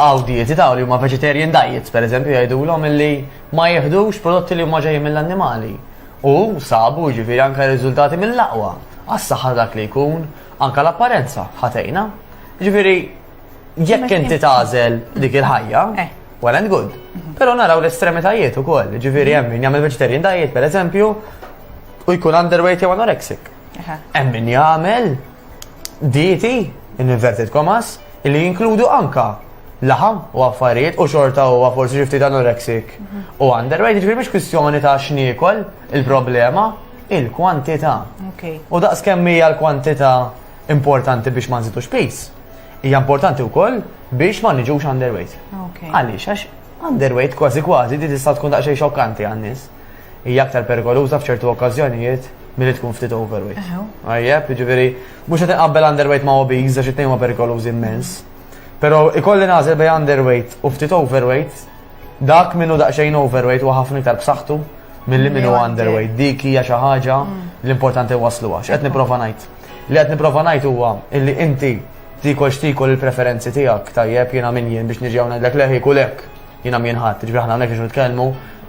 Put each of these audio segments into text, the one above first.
Hawn dieti ta' li huma vegetarian diets, pereżempju, jgħidulhom illi ma jieħdux prodotti li huma ġejjin mill-annimali. U sabu, jiġifieri, anke riżultati mill-aqwa għas-saħħa ta' dak li jkun, anke l-apparenza ħa tgħinha. Jiġifieri, jekk inti tagħżel dik il-ħajja, eh. well and good. Mhm. Però naraw l-estremitajiet ukoll, jiġifieri hemm min jagħmel vegetarian diet, pereżempju, u jkun underweight jew anorexic. Hemm min jagħmel dieti, in inverted commas, li jinkludu anka laħam u affarijiet u xorta u forsi xifti ta' anorexic u underweight, ġifiri mhix kwistjoni ta' x'niekol il-problema, il-kwantità. U daqs kemm hija l-kwantità importanti biex ma nżidux pis, hija importanti wkoll biex ma niġux underweight. Għaliex għax underweight kważi kważi di tista' tkun daqsxejn xokkanti għan-nies. hija aktar perikoluża f'ċertu okkażjonijiet milli tkun ftit overweight. Għajjeb, jiġifieri mhux qed inqabbel underweight ma' obese għax it-tnejn ma' perikolużi immens. Però ikolli nażel bej underweight u ftit overweight, dak minnu daqsxejn overweight u ħafna iktar b'saħħtu milli minnu underweight. Dik hija xi ħaġa mm. l-importanti waslu għax qed nipprova ngħid. Li qed nipprova ngħid huwa illi inti tikol xtikol il-preferenzi tiegħek tajjeb jiena min jien biex niġi hawn ngħidlek leħi kulek Jiena mien ħadd, jiġifieri aħna hawnhekk biex nitkellmu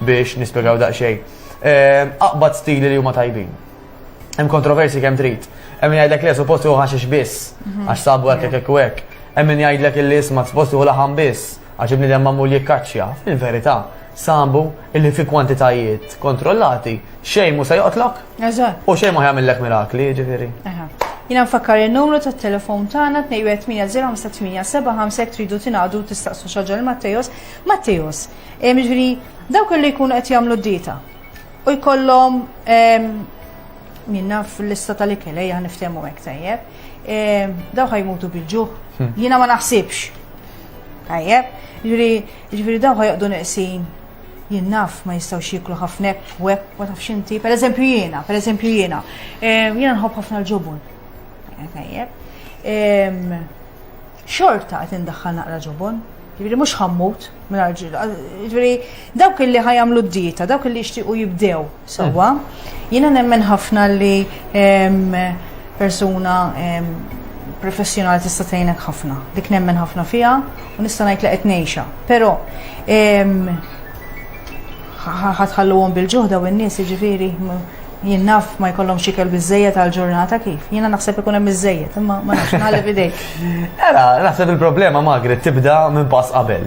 biex nispjegaw daqsxejn. Ehm, aqbad stili li huma tajbin. Hemm kontroversi kemm trid. Hemm min jgħidlek le suppost hu ħaxix biss, mhm. għax sabu hekk hekk u hekk. Hemm min jgħidlek illi isma' suppost hu laħam biss, għax ibnidem mamul jikkaċċja. Fil-verità, sabu illi fi kwantitajiet kontrollati Xejn mhu se joqtlok? Eżatt. U xejn mhu jagħmillek mirakli, jiġifieri. Eħe. Jiena nfakkar in-numru tat-telefon tagħna 21805 tridu tingħadu tistaqsu xaġa l-Mattejos. Mattejos, jiġifieri dawk li jkunu qed jagħmlu dieta u jkollhom minna fil-lista tal-ikel ejja niftehmu hekk tajjeb. Dawk ħajmutu bil-ġuħ. Hmm. Jiena ma naħsibx. Tajjeb, ġifieri ġifieri dawk ħajqdu neqsin Jien naf ma jistgħux jieklu ħafna hekk u hekk ma tafx inti. Pereżempju jiena, pereżempju jiena. Ehm, jiena nħobb ħafna l-ġobon. Tajjeb. Ehm, xorta qed indaħħal naqra ġobon. Ġifieri mhux ħammut minn ġifieri dawk li ħajamlu d-dieta, dawk li jixtiequ jibdew Sewwa, jiena nemmen ħafna li persuna professjonali tista' tgħinek ħafna. Dik nemmen ħafna fiha u nista' ngħid li qed ngħixha. Però ħatħalluhom bil-ġuħda u n-nies jiġifieri jien naf ma jkollhom xikel biżejjed għal ġurnata kif. Jiena naħseb ikun hemm biżejjed, imma ma nafx nagħleb idejk. Era, naħseb il-problema Magret tibda minn pass qabel.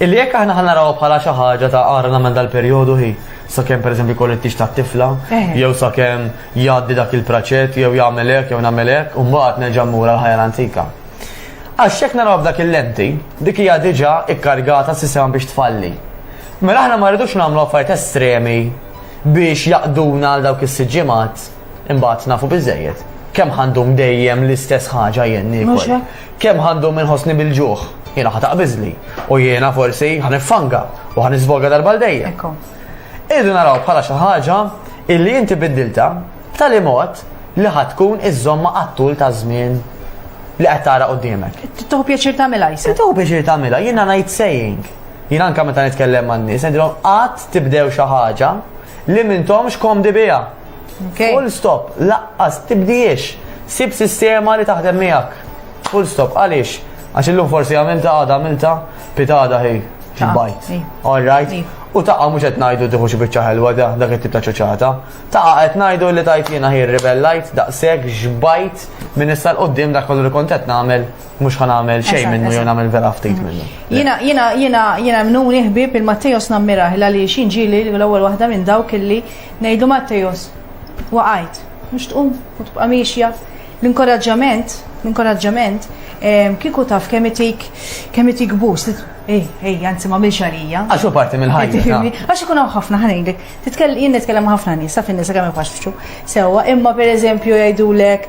Illi jekk aħna ħanaraw bħala xi ħaġa ta' għara nagħmel dal-perjodu hi, Sakemm pereżempju jkollu t-tix tat-tifla, jew sakemm jgħaddi dak il-praċett, jew jagħmel hekk, jew nagħmel hekk, u mbagħad nerġa' mmur għall-ħajja l-antika. Għax jekk narawha b'dak il-lenti, dik hija diġà kkargata s-sistema biex tfalli. Mela aħna ma rridux nagħmlu affarijiet estremi biex jaqduna għal dawk is-sitt ġimgħat, imbagħad nafu biżżejjed. Kemm ħa ndum dejjem l-istess ħaġa jien niekol? Kemm ħa ndum inħossni bil-ġuħ, jiena ħa taqbiżli, u jiena forsi ħa niffanga u ħa niżvoga darba l-dejjem. Irridu naraw bħala xi ħaġa illi inti biddilta b'tali mod li ħa tkun iżomma għattul ta' żmien li qed tara qudiemek. Tuħu pjaċir tagħmilha jsa. Tuħu pjaċir tagħmilha, jiena ngħid saying. Jiena anke meta nitkellem man-nies, ngħidilhom qatt tibdew xi ħaġa li m'intomx komdi biha. Okay. Full stop, laqqas tibdiex. Sib sistema li taħdem miegħek. Full stop, għaliex? Għax illum forsi għamilta għada għamilta pitada hi bajt. All right. U taqa mhux qed ngħidu tieħu xi biċċa ħelwa da dak it-tip ta' ċoċata. Taqa qed ngħidu li tajt jiena hi rebellajt daqshekk xbajt minn issa l-qudiem dak kollu li kont qed nagħmel mux ħan għamil xej minnu jew għamil vera ftit mm. minnu. Jina, jina, jina, jina mnu ħbib il-Mattejos nammiraħ la li xin ġili l-ewwel waħda minn dawk illi ngħidu Mattejos waqajt, mhux tqum u tibqa' miexja. L-inkoraġġament, l-inkoraġġament ehm, kieku taf kemm itik kemm itik boost. Ej, ej, anzi ma milx għalija. Għax u parti minn ħajja. Għax ikun hawn ħafna ħanejlek. Titkellem jien nitkellem ħafna nies, sa fin-nisa kemm ifaxxu. Sewwa, imma pereżempju jgħidulek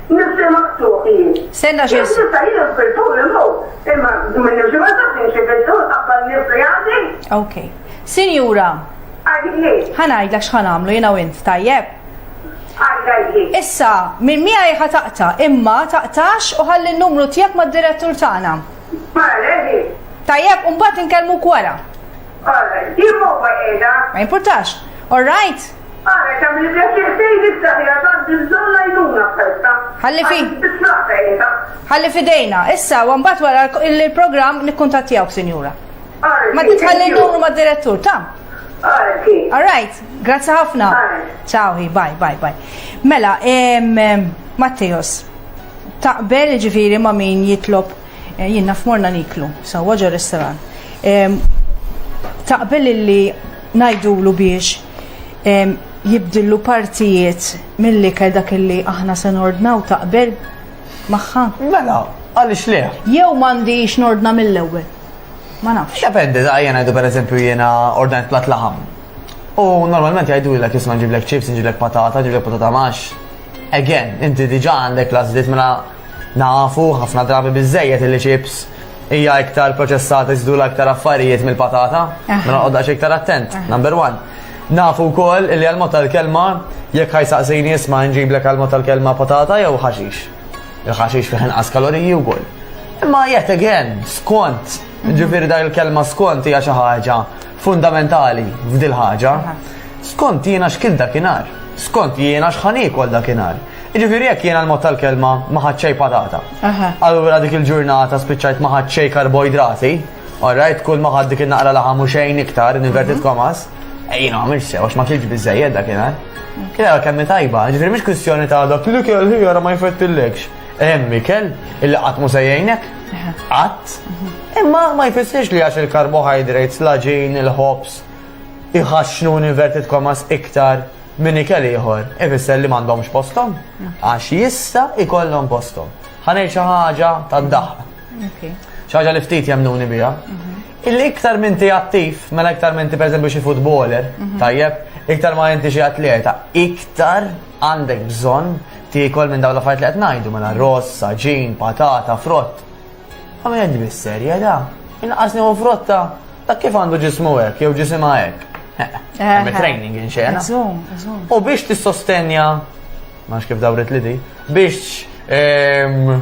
Nifse maqtuħ jien. Senna xie. Nifse jien fil-tul immu. Imma minn nifse maqtuħ jien xie fil-tul qabba nifse għandi. Ok. Sinjura. Għadni. Ħanajd l xħan għamlu jina u int tajjeb. Issa, minn mija jħa taqta, imma taqtax u ħalli n-numru tijak ma d-direttur tagħna. Tajjeb, un bat nkellmu kwara. Ma importax. All right. Għalhekk għamli pjaċir tgħid issa li għad għandi bżonn l-għajnuna f'ħelta. Ħalli fi. Tiflaqa qiegħda. Ħalli fidejna. Issa, u mbagħad wara il-programm nikkuntattjawk, sinjura. Ma titħalli numru mad-direttur, ta'. All right, grazzi ħafna. Ciao, bye, bye, bye. Mela, Matteos, taqbel ġifiri ma' min jitlob eh, jien naf morna niklu, sawa ġo restoran. Taqbel illi ngħidulu biex jibdillu partijiet mill-ikel dak illi aħna se nordnaw taqbel magħha? Mela, għaliex le? Jew m'għandix nordna mill-ewwel. Ma nafx. Dependi, da jena jdu per eżempju jena ordnajt plat laħam. U normalment jgħidu l-ek jisma ġiblek ċips, ġiblek patata, ġiblek patata max. Again, inti diġa għandek lażlit mela nafu ħafna drabi bizzejet il-ċips hija iktar proċessata jżidula iktar affarijiet mill-patata, ma noqgħod daqs iktar attent, number one. Nafu wkoll li għal-mod tal-kelma jekk ħajsaqsini isma' nġiblek għal-mod tal-kelma patata jew ħaxix. Il-ħaxix fih inqas kaloriji wkoll. Imma yet again, skont, ġifieri dak il-kelma skont hija xi ħaġa fundamentali f'dil ħaġa, skont jiena x'kil dakinhar, skont jiena x'ħan ikol dakinhar. Ġifieri jekk jiena l-mod tal-kelma ma ħadxej patata. Allura dik il-ġurnata spiċċajt ma ħadxej karboidrati, alright, kull ma ħad dik il-naqra laħam u xejn iktar, inverted mhm. komas, ejjina ma mirx sew, ma kilġ bizzejed dakinhar. Kien kemm tajba, ġifieri mhix kwistjoni ta' dak li kelli ma jfettillekx. Hemm ikel illi qatt mhu se jgħinek, qatt. Imma ma jfissirx li għax il-karbohydrates, l-aġin, il-ħobż, iħaxxnu inverted commas iktar minn ikel ieħor, ifisser li m'għandhomx posthom, għax jista' ikollhom posthom. Ħanej xi ħaġa tad-daħq. Xi ħaġa li ftit jemnuni biha. Mhm. Illi iktar minn ti attiv, mela iktar minn ti pereżempju xi futboler, mhm. tajjeb, iktar ma inti xi atleta, iktar Għandek bżonn tiekol minn dawn l-affarijiet li qed ngħidu mela ross, saġin, patata, frott. Ma qed bis-serje da. Inqas nieħu frotta ta' kif għandu ġismu hekk jew ġisimha hekk. Hemm training inxena. U biex tissostenja, ma kif dawret li di, biex ehm,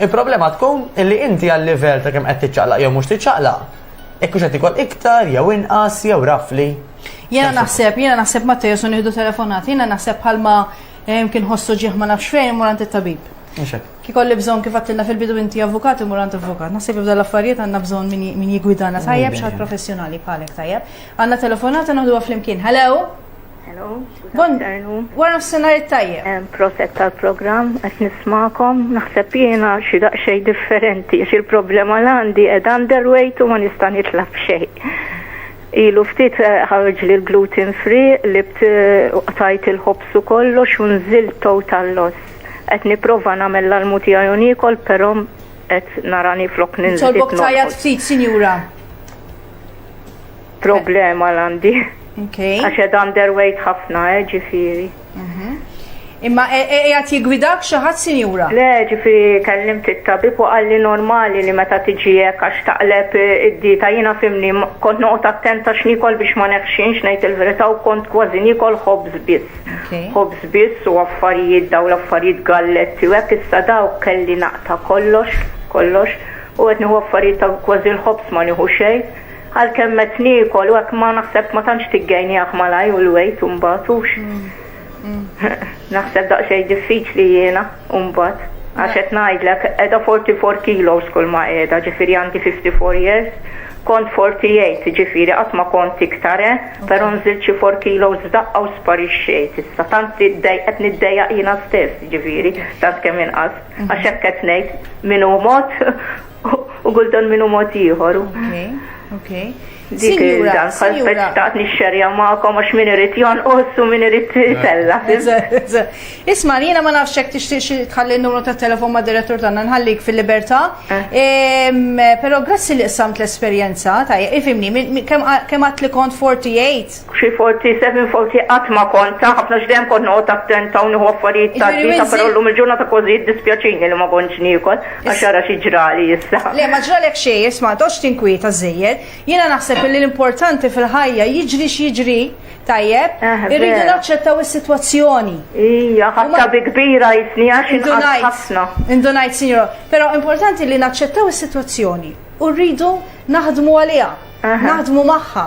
Il-problema tkun illi inti għal-livell ta' kemm qed tiċċaqlaq jew mhux tiċċaqlaq, jekk hux qed ikol iktar jew inqas jew rafli. Jiena naħseb, jiena naħseb ma tejesu nieħdu telefonat, jiena naħseb bħalma eh, kien ħossu ġieħ ma nafx fejn murant it-tabib. Ki kolli bżon kif għattilna fil-bidu inti avukat u murant avukat. Nasib ibda l-affarijiet għanna bżon min jigwidana tajjeb xaħat professjonali bħalek tajjeb. Għanna telefonata naħdu għaflimkien. Hello? Hello, Bon, wara s-senar it-tajjeb. Proset tal-program, għet nismakom, naħseb jena xi daqxej differenti, xi l-problema l-għandi ed underweight u ma nista' nitlab xej. Ilu ftit eh, ħarġ li l-gluten free li btajt il-ħobsu kollox u nżil total loss. Qed nipprova nagħmel l-almu tiegħi unikol, però qed narani flok ninżil. Tolbok tajat ftit, sinjura. Problema l-għandi. Okay. Għax ed underweight ħafna, eh, ġifiri. Mhm. Imma e- e- qiegħed jigwidak xi ħadd sinjura? Le, ġifiri kellimt it-tabib u għalli normali li meta tiġi hekk għax taqleb eh, id-dieta jiena fimni m- kont noqgħod attenta x'nikol biex ma neħxinx ngħid il-verità u kont kważi nikol ħobż biss. Okay. Ħobż biss u affarijiet daw l-affarijiet galletti u hekk issa daw kelli naqta kollox, kollox u qed nieħu affarijiet ta' kważi l-ħobż ma nieħu xejn. Għalkemm qed niekol u hekk ma naħseb ma tantx tiggejniah malajr u l-wejt imbagħad hux. Naħseb daqsxejn diffiċli jiena imbagħad għax qed ngħidlek qiegħda 44 kilos kull ma qiegħda ġifieri għandi 54 years kont 48 ġifieri qatt ma kont iktar eh, però nżilt xi 4 kilos f'daqqa u sparixxejt issa tant qed niddejjaq jiena stess ġifieri tant kemm inqas għax hekk qed ngħid min hu mod U gultan minnu mod ieħor. Okej, okej. Dik il-dan, bħal speċtat nixxerja ma'kom għax min irid jonqos u min irid tella. Isma, jiena ma nafx hekk tixtieq tħalli n-numru ta' telefon ma' direttur tagħna nħallik fil-libertà. Eh. Però grazzi li qsamt l-esperjenza, tajja, ifimni, kemm għat li kont 48? Xi 47, 40 qatt ma kont ta' ħafna għax dejjem kont noqgħod attenta u nieħu affarijiet ta' Jiġifieri dieta, però Winzi- llum il-ġurnata kważi jiddispjaċini li ma kontx niekol għax ara xi ġrali issa. Le, ma ġralek xejn, isma' ma toqgħodx tinkwieta żżejjed. Jiena naħseb illi l-importanti fil-ħajja jiġri x'jiġri, tajjeb, Eh, irridu vera. naċċettaw is-sitwazzjoni. Ija, U ma- ħatta bi kbira jisni għax inqas Indunajt, ħafna. indunajt, sinjora. Però importanti li naċċettaw is-sitwazzjoni u rridu naħdmu għaliha, Aha. naħdmu magħha.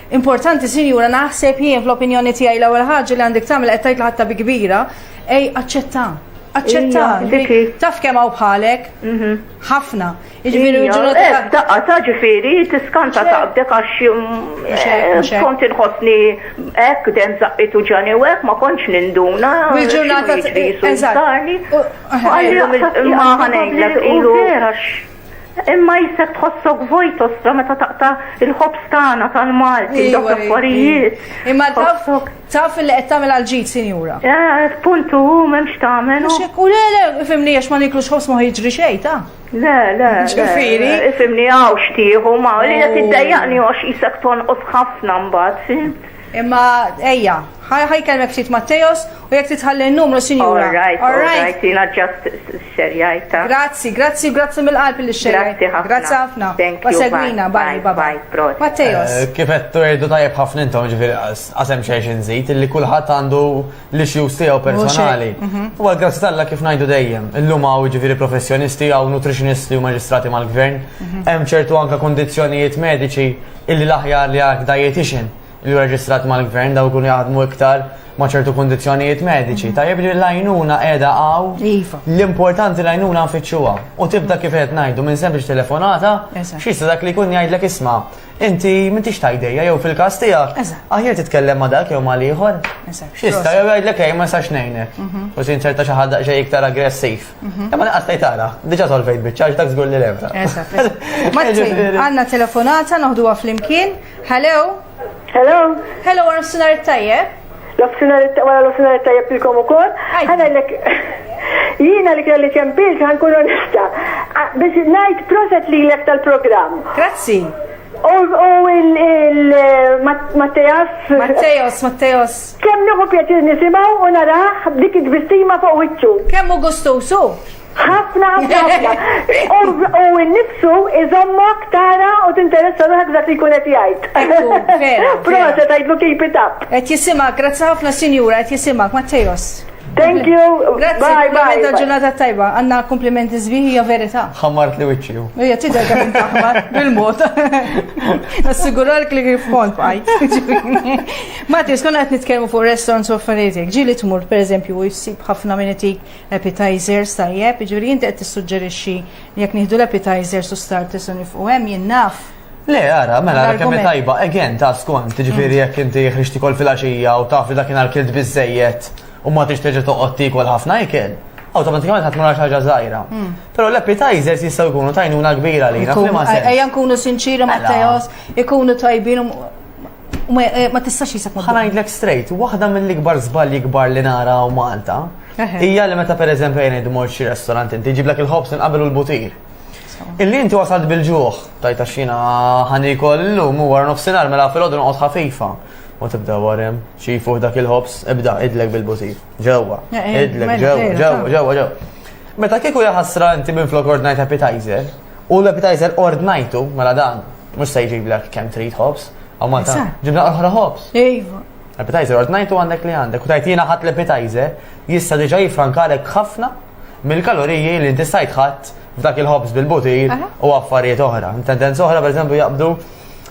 Importanti, sinjura, naħseb jien fl-opinjoni tiegħi l-ewwel ħaġa li għandek tagħmel qed tgħid ħatta bi kbira, ej aċċetta. Aċċetta, taf kemm hawn bħalek? Mhm. Ħafna. Jiġifieri ġurnata. Eh, daqqa ta' ġifieri tiskanta taqbdek għax mm, eh, kont inħossni hekk dem żaqqitu ġani u hekk ma kontx ninduna. Il-ġurnata eżatt. Ma ħanejlek ilu. Imma jisek tħossok vojt ostra meta taqta il-ħobs tagħna tal-Malti, dawk l-affarijiet. Imma taf taf li qed tagħmel għal-ġid, sinjura. Eh, puntu hu m'hemmx tagħmel. U le le, ifimni għax ma niklux ħobs ma jiġri xejn ta'. Le, le. Ġifieri. Ifimni hawn xtieħu ma li qed iddejjaqni għax isek tonqos ħafna mbagħad. Imma ejja, ħaj kelmek ftit Matteos u jekk titħalli n-numru sinjura. All right, all right, jina ġast xxerjajtha. Grazzi, grazzi, grazzi mill-qalb li xxerjajtha. Grazzi ħafna. Grazzi ħafna. Segwina, bye, bye bye. Prosit. Matteos. Kif għedtu għedtu tajjeb ħafna intom ġifieri qas hemm xejn xi nżid illi kulħadd għandu l-issues tiegħu personali. U għal grazzi t'Alla kif ngħidu dejjem, illum hawn ġifieri professjonisti hawn nutritionisti u maġistrati mal-gvern, hemm ċertu anke kundizzjonijiet mediċi illi l-aħjar li għal dietician. li hu reġistrat mal-gvern daw ikunu jaħdmu iktar ma' ċertu kundizzjonijiet mediċi. Mhm. Tajjeb li l-għajnuna qiegħda għaw iva. l-importanti l-għajnuna nfittxuha. U tibda kif qed ngħidu minn sempliċ telefonata, xista dak li jkun jgħidlek isma' inti m'intix tajdejja jew fil-każ tiegħek. Aħjar titkellem ma' dak jew ma' ieħor. Xista jew jgħidlek ej ma sax ngħinek. Mhm. U sin ċerta xi ħadd xejn iktar aggressiv. Mhm. Imma naqas tgħid tara, diġà solvejt biċċa dak żgur li lebda. Għandna telefonata noħduha flimkien. Hello. Hello. Hello, għar sunar tajjeb. L-ofsinar wara l-ofsinar tajjeb ilkom ukoll. Ħanellek jiena li kelli ċempilt ħankun onesta. Biex ngħid proset li lek tal-programm. Grazzi. U il Matteos. Matteos, Matteos. Kemm nieħu pjaċir nisimgħu u naraħ dik id-bistima fuq wiċċu. Kemm hu gustusu? ħafna ħafna ħafna. U n-nifsu iżommok tara u tinteressa ruħek dak li jkun qed jgħid. Proset għidlu keep it up. Qed jisimak, grazzi ħafna sinjura, qed jisimak, Mattejos. Thank you. Grazzi, bye, bye. Għadda ġurnata tajba, għanna komplimenti zbiħi ja verita. Ħammart li wicċi. Ija, tidher kif intaħmar bil-mod. Nassiguralk li kif kont bħaj. Mati, skonna qed nitkellmu fuq restaurants u affarijiet. Ġili tmur, per eżempju, u jissib ħafna minn itik Appetizers, tajjeb, jiġifieri inti qed tissuġġerixxi li jekk nieħdu l-appetizers u starters u nifqu hemm jien naf. Le, ara, mela, ara kemm tajba, again, ta' skont, ġifiri jekk inti ħriġti kol fil-axija u taf li dakin għal-kilt bizzejiet u ma tix teġa toqgħod tikol ħafna ikel, automatikament ħadd mara ħaġa żgħira. Hmm. Però l-appetizers jistgħu jkunu tajnuna kbira li Ejja nkunu sinċiri ma' mela. teos, ikunu tajbin U ma- eh, ma tistax jisek ma- Ħanajdlek straight, waħda mill-ikbar żbalji kbar li nara u Malta Eħe. hija li meta pereżempju jien id mort xi restorant inti ġiblek il-ħobs inqabel u l-butir. Illi inti wasalt bil-ġuħ, tajta xina ħanikol illum u wara nofsinhar mela fil-għodu noqgħod ħafifa. U tibda warem, xi fuq dak il-ħobs, ibda idlek bil-butir. Ġewwa, Eh, eh, idlek mela, ġewwa, vera, ġewwa, ta. ġewwa, ġewwa. Meta kieku jaħasra inti minn flok ordnajt appetizer, U l-appetizer ordnajtu, mela dan, mux se jġiblek kem trid hops, għaw ma ta' ġibna oħra hops. Ejva. Appetizer ordnajtu għandek li għandek, u tajtina ħat l-appetizer, jista diġa jifrankalek ħafna mill-kaloriji li inti stajt ħadd f'dak il-hops bil-butir u affarijiet oħra. Tendenza oħra, per jaqbdu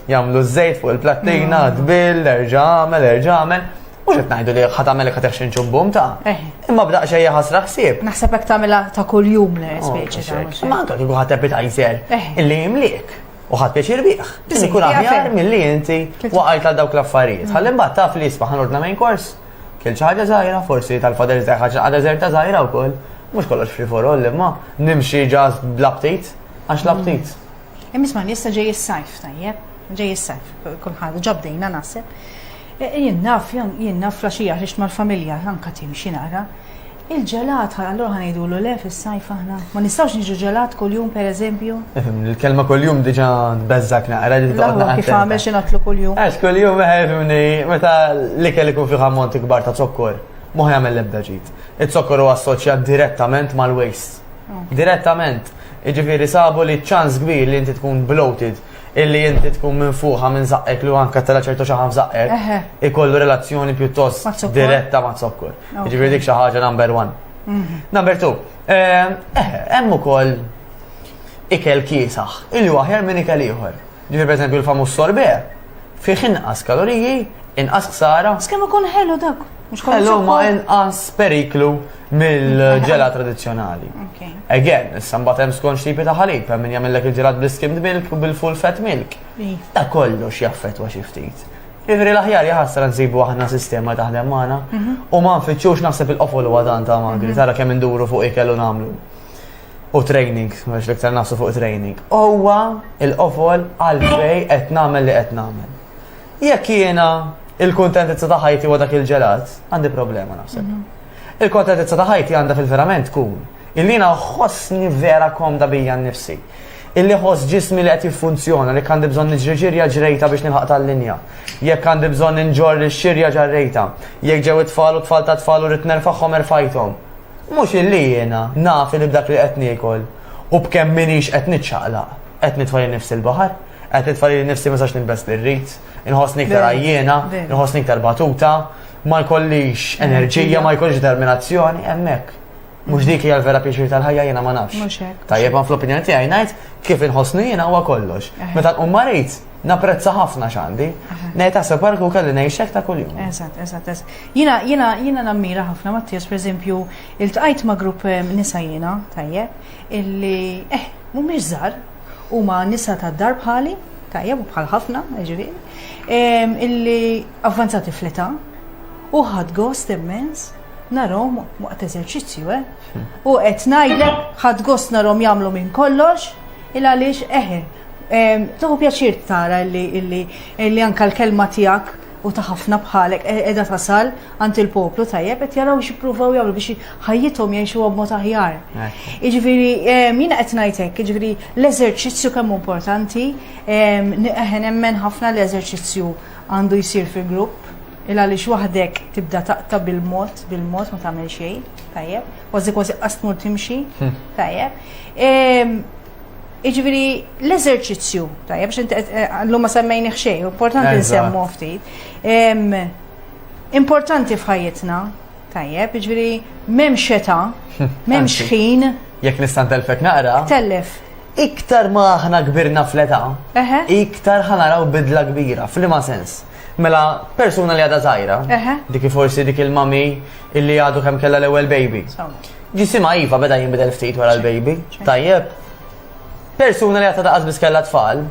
jamlu z-zejt fuq il-plattina, d-bil, erġamel, erġamel. Mhux qed ngħidu li ħa tagħmel iktar xi nġubbum ta'. Eh. Imma b'daq xejja ħasra ħsieb. Naħseb hekk tagħmilha ta' kuljum li oh, speċi ta' mhux. Ma anke kieku ħadd appetizer eh. illi jimliek u ħadd pjaċir bih. Ikun aħjar milli inti waqajt għal dawk l-affarijiet. Ħalli mbagħad taf li jisma' ħanordna main course. Kien xi ħaġa żgħira, forsi tal-fader żgħir ħaġa għadha żerta żgħira wkoll. Mhux kollox free for all imma nimxi ġas bl-aptit għax l-aptit. Mm. Imma jista' ġej is-sajf tajjeb, ġej is-sajf, kulħadd ġobdejna naħseb. Jien naf, jien naf flaxija ħriġt mal-familja, anka timxi naqra. Il-ġelat, allura ħa ngħidulu le fis-sajf aħna. Ma nistgħux niġu ġelat kuljum pereżempju. Il-kelma kuljum diġà tbeżżak naqra li taqgħod naqra. Kif għamel xi nagħtlu kuljum. Għax kuljum eħefimni meta l-ikel ikun fih ammonti kbar ta' zokkor, mhu jagħmel l-ebda ġid. Iz-zokkor huwa assoċjat direttament mal-waste. Oh. Direttament. Iġifieri sabu li ċans kbir li inti tkun bloated illi inti tkun minfuħa minn zaqqek li huwa anke tela' ċertu xaħam f'zaqqek, Eħe. ikollu relazzjoni pjuttost Ma' zokkor. diretta ma' zokkor. Ok. Jiġifieri dik xi ħaġa number one. Number two, eh, eh, hemm ukoll ikel kiesaħ, illi huwa aħjar minn ikel ieħor. Ġifieri pereżempju l-famuż sorbet fih inqas kaloriji, inqas ksara, Skemm ikun ħelu dak. Għallu eh, ma inqas periklu mill-ġela tradizjonali. Again, sambat hemm skont xipi ta' ħalib, hemm min jagħmellek il-ġelat bl-skimmed milk u bil-full fat milk. Ta' kollox jaffetwa xi ftit. Ivri l-aħjar jħassra nsibu aħna sistema taħdem magħna mhm. u ma nfittxux naħseb il-qofol u għadan ta' magri, mhm. tara kemm induru fuq ikel u nagħmlu. U training, għax l-iktar nasu fuq training. Owa il-qofol għalfej qed nagħmel li qed nagħmel. Jekk jiena il-kuntentizza ta' ħajti huwa dak il-ġelat, għandi problema naħseb. Mhm. Il-kuntentizza ta' ħajti għandha fil-verament tkun illi ħossni vera komda bija nnifsi. Illi ħoss ġismi li qed jiffunzjona li għandi bżonn niġri ġirja ġrejta biex nilħaq tal-linja. Jekk għandi bżonn inġor li xirja ġarrejta. Jekk ġew it-tfal u tfal ta' tfal u rid nerfagħhom erfajthom. Mhux illi jiena naf li b'dak li qed niekol u b'kemm minix qed niċċaqlaq qed nitfajja nifsi l-baħar. Qed nitfa' li nifsi ma sax nilbes li rrid, inħossni iktar għajjena, inħossni iktar batuta, ma jkollix enerġija, ma jkollix determinazzjoni, hemmhekk. Mhux dik hija l-vera pjaċir tal-ħajja jiena ma nafx. Tajjeb ma fl-opinjoni tiegħi ngħid kif inħossni jiena huwa kollox. Meta nqum marit, napprezza ħafna xandi. Nejta se barku kelli nejxek ta' kull jum. Eżat, eżat, eżat. Jina, jina, jina nammira ħafna Mattias, per eżempju, il-tqajt ma' grupp eh, nisa jina, tajje, illi, eh, mu mizar, Huma nisa tad-dar bħali, tajjeb u bħal ħafna, ġifieri, ehm, illi avvanzati fl-età u ħadd gost immens narom waqt eżerċizzju, eh? Hmm. U qed ngħidlek ħadd gost narom jagħmlu minn kollox, il għaliex eħe. Ehm, Tuħu pjaċir tara illi anka l-kelma tiegħek u ta' ħafna bħalek e- edha tasal għand il-poplu tajjeb qed jaraw x'ippruvaw jagħmlu biex ħajjithom jgħixuha b'mod aħjar. Jiġifieri jiena qed ngħid hekk, jiġifieri l-eżerċizzju kemm importanti, eħen nemmen ħafna l-eżerċizzju għandu jsir fil-grupp, il għaliex waħdek tibda taqta bil-mod, bil-mod ma tagħmel xejn, tajjeb, kważi kważi qasmur timxi, hm. tajjeb. Iġviri, l-eżerċizzju, tajjeb, xinti eh, eh, l-lumma semmejni xej, importanti nsemmu ftit. Importanti f'ħajjitna, tajjeb, jiġifieri m'hemm xeta, m'hemm xħin. Jekk nista' ntelfek naqra. Tellef. Iktar ma aħna kbirna fl-età, iktar ħanaraw bidla kbira, f'liema sens. Mela, persuna li għadha żgħira, dik forsi dik il-mami illi għadu kemm kellha l-ewwel baby. Ġisimha iva beda jinbidel ftit wara l-baby, tajjeb. Persuna li għadha daqas biss kellha tfal,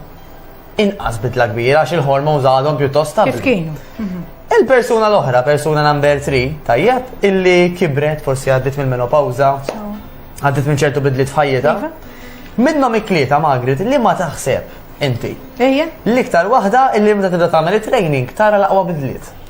Inqas bidla kbira għax il-hormones għadhom pjuttost stabbli. Kif kienu? Il-persuna l-oħra, persuna number 3, tajjeb, illi kibret forsi għaddit mill-menopawza, għaddit minn ċertu bidliet f'ħajjita. Iva. Minnhom iklieta Magrit li ma taħseb inti. Ejja. L-iktar waħda illi meta tibda tagħmel it-training tara l-aqwa bidliet.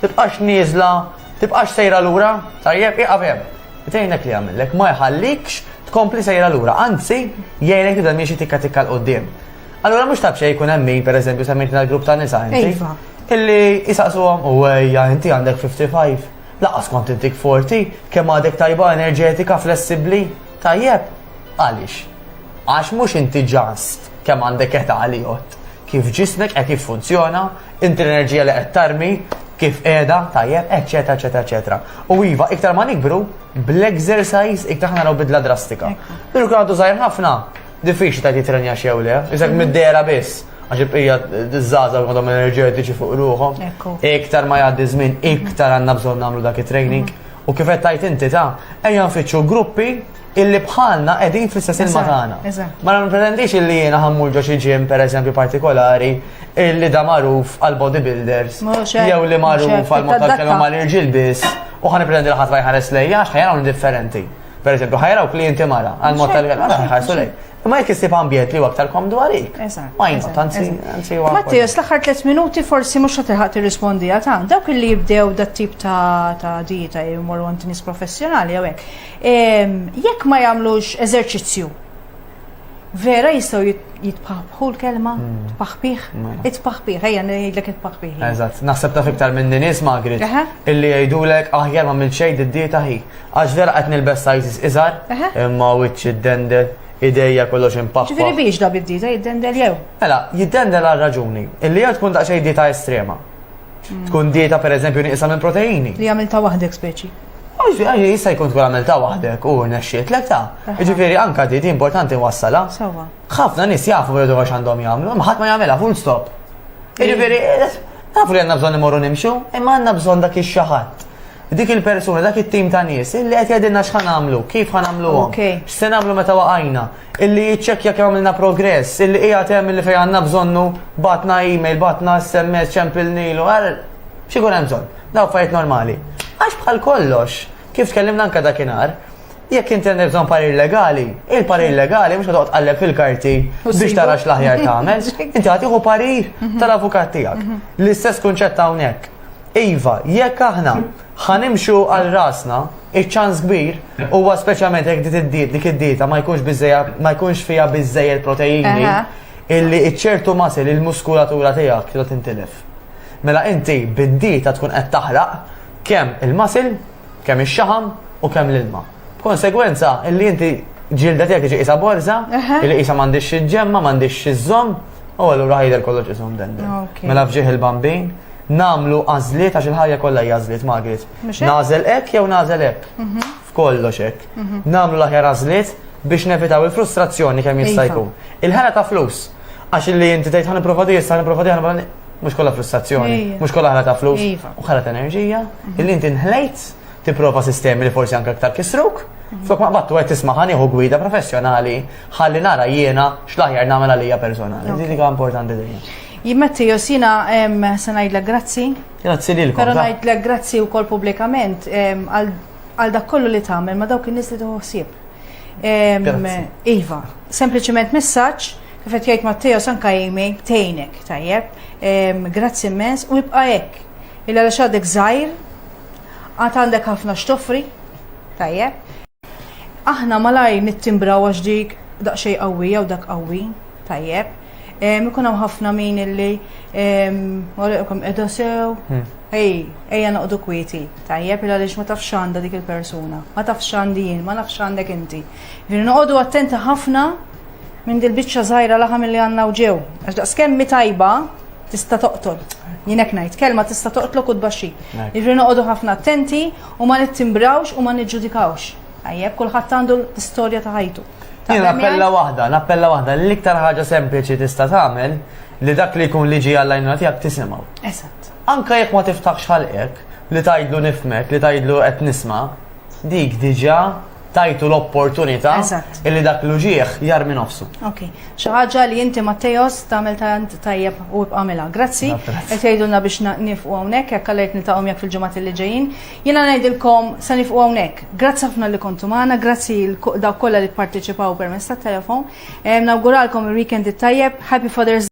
Tibqax nieżla, tibqax sejra lura, tajjeb, ieqaf hemm. Itgħinek li jagħmillek, ma jħallikx tkompli sejra lura, anzi, jgħinek tibda miexi tikka tikka l-qoddim. Allura mhux ta' xejn jkun hemm min, pereżempju, semmejtna l-grupp ta' nisa inti. Iva. Illi jisaqsuhom u ejja inti għandek 55. Laqas kont intik 40, kemm għadek tajba enerġetika, flessibbli, tajjeb. Għaliex? Għax mhux inti ġast kemm għandek età li jgħod. Kif ġismek qed jiffunzjona, Inti l-enerġija li qed tarmi, kif qiegħda, tajjeb, eċetera, eċetera, eċetera. U iva, iktar ma nikbru, bl-exercise iktar ħana bidla drastika. Pero kien għadu żgħir ħafna, diffiċli ta' jitrenja xew le, iżek mhm. mid-dera biss għax il-bqija d-żaza għadhom enerġetiċi fuq ruħom. Iktar ma jgħaddi żmien, iktar għandna bżonn nagħmlu dak it-training. Mhm. U kif qed tajt inti ta' ejja nfittxu gruppi illi bħalna qegħdin fl-istess ilma tagħna. Ma nipretendix illi jiena ħammur ġo xi ġim pereżempju partikolari illi da magħruf għal bodybuilders jew li magħruf għal mod tal-kelma mal irġiel biss u ħan pretendi li ħadd ma jħares lejja għax ħajra differenti. Per eżempju, ħajra u klienti mara għal mod tal-kelma ħarsu lej. Imma jekk isib ambjent li aktar komdu għalik. Majna, tanzi, tanzi għu. Matti, l-axħar 3 minuti forsi mux ħatilħat tirrispondi għatan. Dawk li jibdew dat tip ta' dieta jimur għant nis professjonali għawek. Jekk ma jagħmlux eżerċizzju, vera jistgħu jitpaħbħu l-kelma, hmm. tpaħbih, hmm. itpaħbih, ejja ngħidlek itpaħbih. Eżatt, naħseb taf iktar minn nies magrit illi jgħidulek aħjar ma mill xejn id-dieta hi. Għax vera qed nilbes sizes iżgħar, imma wiċċ id-dendel ideja kollox impaħħa. Ġifieri biex da bid-dieta jiddendel jew? Mela, jiddendel għal raġuni, illi hija tkun daqsxejn dieta estrema. Tkun dieta per eżempju nieqsa minn proteini. Li għamilta waħdek speċi. Għaxi, għaxi, jissa jkun tkun għamilta waħdek u nexxiet l ta' Ġifiri, anka di, di importanti wassala. Sawa. ħafna nis jafu bħedu għax għandhom jgħamlu, maħat ma jgħamela, full stop. Ġifiri, nafu li għanna bżon imorru nimxu, imma għanna bżon dak il-xaħat. Dik il-persuna, dak il-tim ta' nis, illi għet jgħadinna xħan għamlu, kif għan għamlu għom. X'se għamlu meta waqajna. illi jiċċekkja kemm għamilna progress, illi qiegħed hemm illi fejn għandna bżonnu batna email, batna SMS, ċempil nilu, għal xi jkun hemm bżonn. Daw fajt normali. Għax bħal kollox, kif tkellimna anke dakinhar, jekk inti għandek bżonn parir legali, il-parir legali mhux toqgħod tqalleb fil-karti biex tara x'l-aħjar tagħmel, inti għatiħu parir mhm. tal-avukat tiegħek. Mhm. L-istess kunċett hawnhekk. Iva, jekk aħna Ħa nimxu għal rasna, iċ-ċans kbir huwa speċjalment jekk dit id-diet dik id-dieta ma jkunx biżejja ma jkunx fiha biżejjed proteini Aha. illi iċ-ċertu masil il-muskulatura tiegħek trid tintilef. Mela inti bid-dieta tkun qed taħraq kemm il-masil, kemm ix-xaħam u kemm l-ilma. B'konsegwenza, illi inti ġilda tiegħek tiġi qisha borża, illi qisha m'għandix xi ġemma, m'għandix xi żomm, u allura ħajder kollox isom dendi. Mela fġieħ il-bambin, namlu għażliet għax il-ħajja kollha hija għażliet Margaret. Nażel hekk jew nażel hekk. Mhm. F'kollox hekk. Mhm. Namlu l-aħjar għażliet biex nevitaw il-frustrazzjoni kemm jista' iva. jkun. Il-ħela ta' flus. Għax li inti tgħid ħan provadi issa ħan provadi ħan mhux kollha frustrazzjoni, mhux kollha ħela ta' flus, iva. u ħela ta' enerġija, mhm. illi inti nħlejt tipprova sistemi li forsi anke aktar kisruk, flok ma battu qed tisma' ħani hu gwida professjonali ħalli nara jiena x'laħjar nagħmel għalija personali. Din hija importanti dejjem. Jimmetti josina se ngħidlek grazzi. Grazzi lilkom. Però ngħidlek grazzi wkoll pubblikament għal dak kollu li tagħmel ma dawk in-nies li toħsib. Iva, sempliċement messaġġ kif qed jgħid Matteo sanka jimi tejnek tajjeb. Grazzi immens u jibqa' hekk. Illa għax għadek żgħir Għad għandek ħafna x'toffri? Tajjeb. Aħna malaj nittimbraw għax dik daqsxejn qawwija u dak qawwi, tajjeb. Ikun hawn ħafna min illi għalikom qiegħda sew. Hmm. Ej, ejja noqdu kwieti, tajjeb il għaliex ma tafx għandha dik il-persuna, ma tafx għandi jien, ma nafx għandek inti. Vini noqogħdu attenti ħafna Minn dil-biċċa żgħira laħam li għandna u ġew, għax daqs kemmi tajba tista' toqtol. Jien hekk ngħid, kelma tista' toqtlok u tbaxxi. Irri noqogħdu ħafna attenti u ma nittimbrawx u ma niġġudikawx. Tajjeb, kulħadd għandu l-istorja ta' ħajtu. Jien appella waħda, l-appella waħda, l-iktar ħaġa sempliċi tista' tagħmel li dak li jkun liġi għall-għajnuna tiegħek tisimgħu. Eżatt. Anka jekk ma tiftaħx ħalqek, li tajdlu nifmek, li tajdlu qed nisma, dik diġa tajtu l-opportunità illi dak l-uġieħ jarmi nofsu. Ok, xi ħaġa li inti Mattejos tagħmel tant tajjeb u bqamilha. Grazzi, qed jgħidulna biex nifqu hawnhekk jekk għalhekk qed niltaqgħu jekk fil-ġimgħat li ġejjin. Jiena ngħidilkom se nifqu hawnhekk. Grazzi ħafna li kontu magħna, grazzi dawk kollha li pparteċipaw permezz tat-telefon. Nawguralkom il-weekend it-tajjeb, Happy Father's